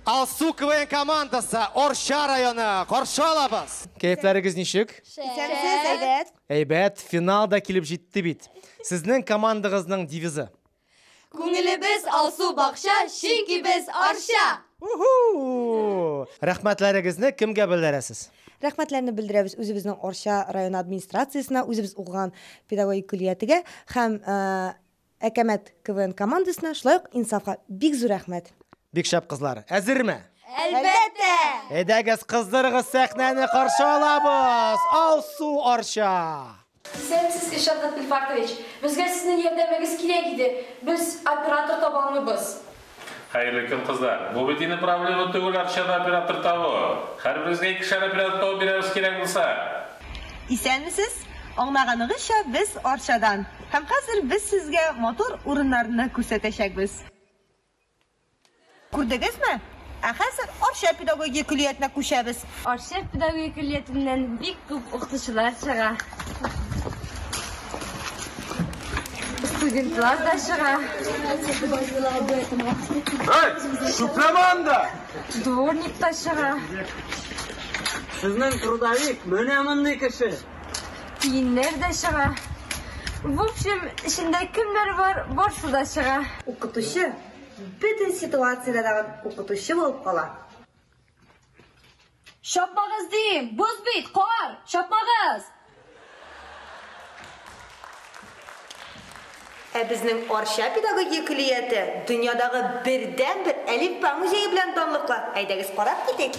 Алсу КВН командасы Орша районы каршы алабыз. Кәйфләрегез ничек? Исәнсез, әйбәт. Әйбәт, финал да килеп җитте бит. Сезнең командагызның девизы? Күңелебез Алсу бакча, чөнки без Орша. Рәхмәтләрегезне кемгә белдерәсез? Рәхмәтләрне белдерәбез үзебезнең Арча районы администрациясенә, үзебез укыган педагогик көллиятегә һәм Әкәмәт КВН командасына, шулай ук Инсафка бик зур рәхмәт! Бик шәп кызлар! Әзерме? Әлбәттә! Әйдәгез, кыздырыгыз сәхнәне, каршы алабыз! Алсу Арча! Исән сез, Илшат Габделфартович! Безгә сезнең ярдәмегез кирәк иде, без оператор таба алмыйбыз. Хәерле көн, кызлар! Бу бит инде проблема түгел Арчада оператор табу! Хәрберебезгә икешәр оператор табып бирәбез кирәк булса! Исәнмесез! Аңлаганыгызча, без Арчадан. Һәм хәзер без сезгә матур урыннарны күрсәтәчәкбез. Күрдегезме? Ә хәзер Арча педагогия көллиятенә күчәбез. Арча педагогия көллиятеннән бик күп укытучылар чыга. Студентлар да чыга. Эй, чүпләмә анда! Дворник та чыга. Сезнең трудовик менә мондый кеше. Тиеннәр дә чыга. В общем, эчендә кемнәр бар, барсы да чыга. Укытучы бөтен ситуациядә дә укытучы булып кала. Чапмагыз дим! Боз бит, кар! Чапмагыз! Ә безнең Арча педагогия көллияте дөньядагы бердәнбер Әлифба музее белән данлыклы. Әйдәгез карап китик.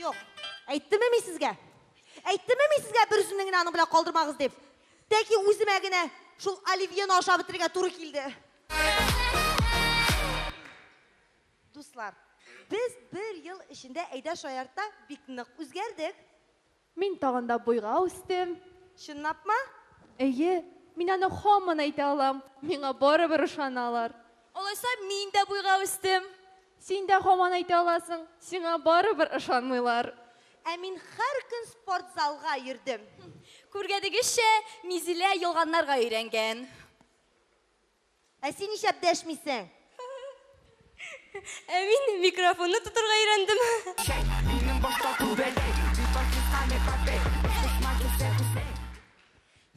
Юк. Әйттеме мин сезгә? Әйттеме мин сезгә бер үземне генә аның белән калдырмагыз дип? Тәки үземә генә шул оливьены ашап бетерергә туры килде. Дуслар, без бер ел эчендә әйдә шаяртта бик нык үзгәрдек. Мин тагын да буйга үстем. Чынлапмы? Әйе, мин аны һаман әйтә алам, миңа барыбер ышаналар. Алайса, мин дә буйга үстем. Син дә һаман әйтә аласың, сиңа барыбер ышанмыйлар. Ә мин һәр көн спортзалга йөрдем. Күргәнегезчә, Мизилә ялганнарга өйрәнгән. Ә син нишләп дәшмисең? Ә мин микрофонны тотырга өйрәндем.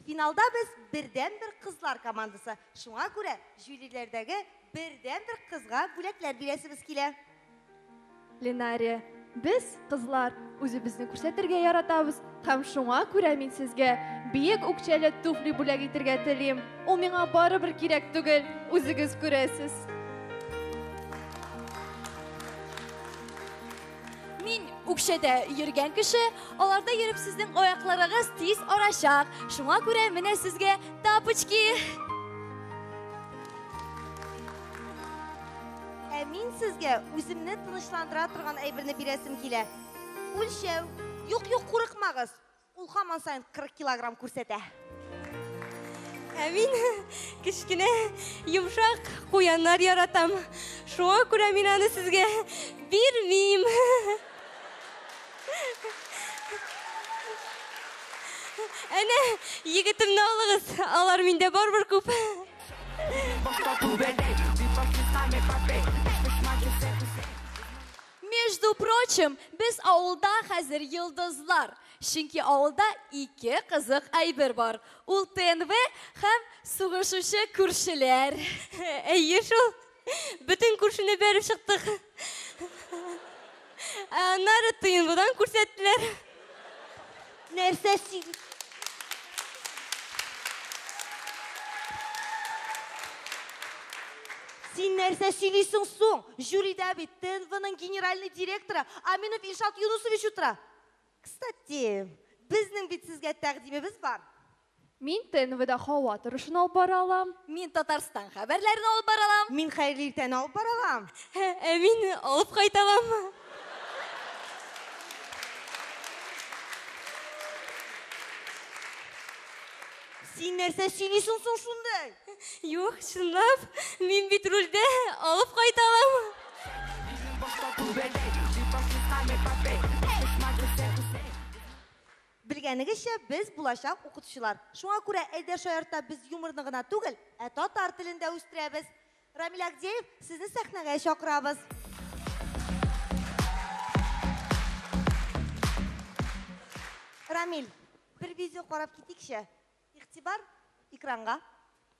Финалда без бердәнбер кызлар командасы, шуңа күрә жюриләрдәге бердәнбер кызга бүләкләр бирәсебез килә. Линария, без, кызлар, үзебезне күрсәтергә яратабыз, һәм шуңа күрә мин сезгә биек үкчәле туфли бүләк итергә телим. Ул миңа барыбер кирәк түгел, үзегез күрәсез. Мин үкчәдә йөргән кеше, аларда йөреп сезнең аякларыгыз тиз арачак. Шуңа күрә менә сезгә тапочки. Ә мин сезгә үземне тынычландыра торган әйберне бирәсем килә. Үлчәү. Юк, юк, курыкмагыз. Ул хаман саен 40 килограмм күрсәтә. Ә мин кечкенә йомшак куяннар яратам. Шуңа күрә мин аны сезгә бирмим. Әнә, егетемне алыгыз, алар миндә барбыр күп. Между прочим, без авылда хәзер йолдызлар. Чөнки авылда ике кызык әйбер бар. Ул ТНВ һәм сугышучы күршеләр. Әйе шул. Бөтен күршене бәреп чыктык. Аннары тыенбудан күрсәттеләр. Нәрсә син? Син нәрсә сөйлисең соң? Жюрида бит ТНВның генеральный директоры Аминов Илшат Юнусович утыра. Кстати, безнең бит сезгә тәкъдимебез бар. Мин ТНВда һава торышын алып бара алам. Мин Татарстан хәбәрләрен алып бара алам. Мин Хәерле иртәне алып бара алам. Ә мин алып кайта алам. Син нәрсә сөйлисең соң шундый? Юк, чынлап, мин бит рульдә алып кайта алам. Белгәнегезчә, без, булачак укытучылар. Шуңа күрә Эльдәр Шаяртта без юморны гына түгел, ә татар телен дә үстерәбез. Рамил Агдеев, сезне сәхнәгә чакырабыз. Рамил, бер видео карап китикче. Игътибар, экранга.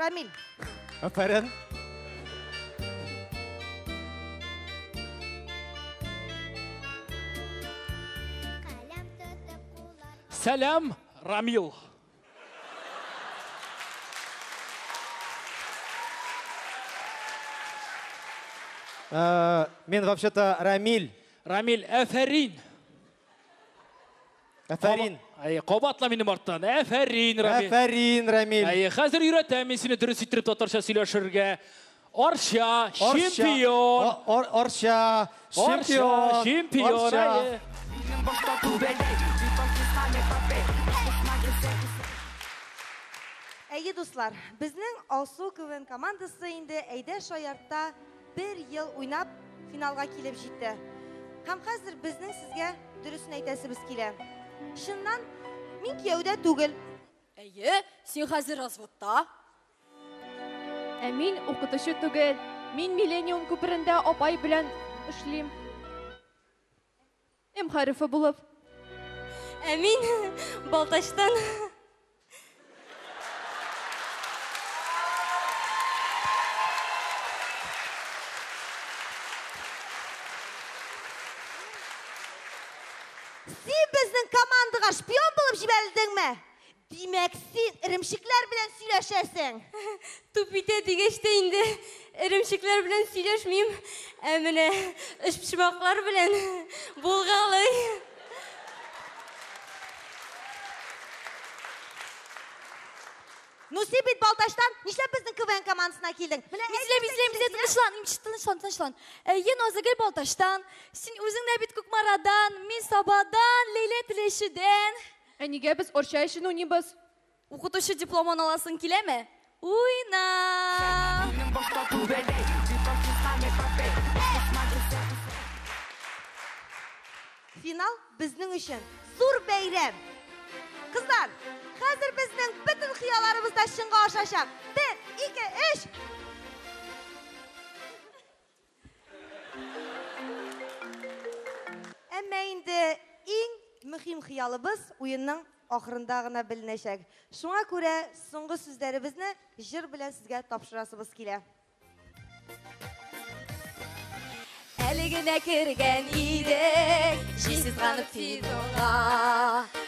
Рамиль. Афәрин. Сәлам, Рамил. Э, мен вообще-то Рамиль. Рамиль, әфәрин. Әфәрин. Әй, кабатла минем арттан. Әфәрин, Рамил. Әфәрин, Рамил. Әй, хәзер өйрәтәм мин сине дөрес иттереп татарча сөйләшергә. Арча, чемпион. Арча, чемпион. Чемпион. Әйе, дуслар, безнең Алсу КВН командасы инде әйдә шаяртта Бер ел уйнап, финалга килеп җитте. Һәм хәзер безнең сезгә дөресен әйтәсебез килә. Чыннан, мин кияүдә түгел. Әйе, син хәзер разводта. Ә мин укытучы түгел. Мин Миллениум күперендә апай белән эшлим. М хәрефе булып. Ә мин Балтачтан. Син безнең командага шпион булып җибәрелдеңме? Димәк, син эремчекләр белән сөйләшәсең? Туп итә дигәч тә инде эремчекләр белән сөйләшмим, ә менә өчпочмаклар белән булгалый. Ну син бит Балтачтан, нишләп безнең КВН командасына килдең? Менә Изләп, изләп, изләп, тынычлан, имче, тынычлан, тынычлан. Әйе, Назыгөл Балтачтан, син үзең дә бит Кукмарадан, мин Сабадан, Ләйлә Теләчедән. Ә нигә без Арча өчен уйныйбыз? Укытучы дипломын аласың киләме? Уйна! Финал безнең өчен зур бәйрәм! Кызлар, хәзер безнең бөтен хыялларыбыз да чынга ашачак! Бер, ике, өч! Әмма инде иң мөһим хыялыбыз уенның ахырында гына беленәчәк. Шуңа күрә соңгы сүзләребезне җыр белән сезгә тапшырасыбыз килә. Әле генә кергән идек, җил сызганып фидонга.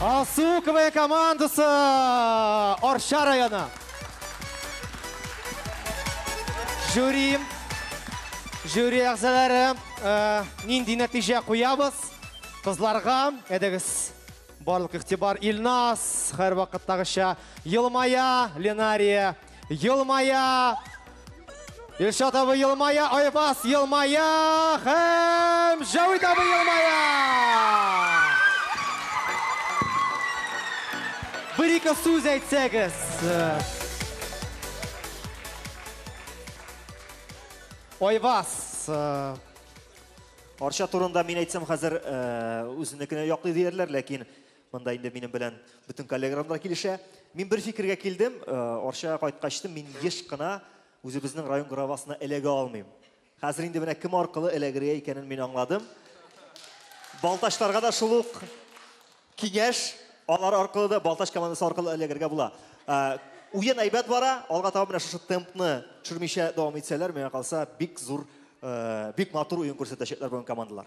Алсу КВН командасы Арча районы. Жюри, жюри әгзалары э, нинди нәтиҗә куябыз? Кызларга әдегез барлык игътибар Илнас, һәр вакыттагыча елмая, Ленария Елмая! Илшат абый елмая, Айвас елмая һәм Җәвит абый елмая! Бер-ике сүз әйтсәгез. Айвас, э, Арча турында мин әйтсәм хәзер э, үзенекенә яклый диярләр, ләкин Монда инде минем белән бөтен коллегаларым да килешә. Мин бер фикергә килдем, э, Арчага кайткачтым, мин еш кына үзебезнең район гравасына эләгә алмыйм. Хәзер инде менә кем аркылы эләгергә икәнен мин аңладым. Балтачларга да шул ук киңәш, алар аркылы да Балтач командасы аркылы эләгергә була. Э, уен әйбәт бара, алга таба менә шушы темпны төшермичә дәвам итсәләр, миңа калса, бик зур, э, бик матур уен күрсәтәчәкләр бүген командалар.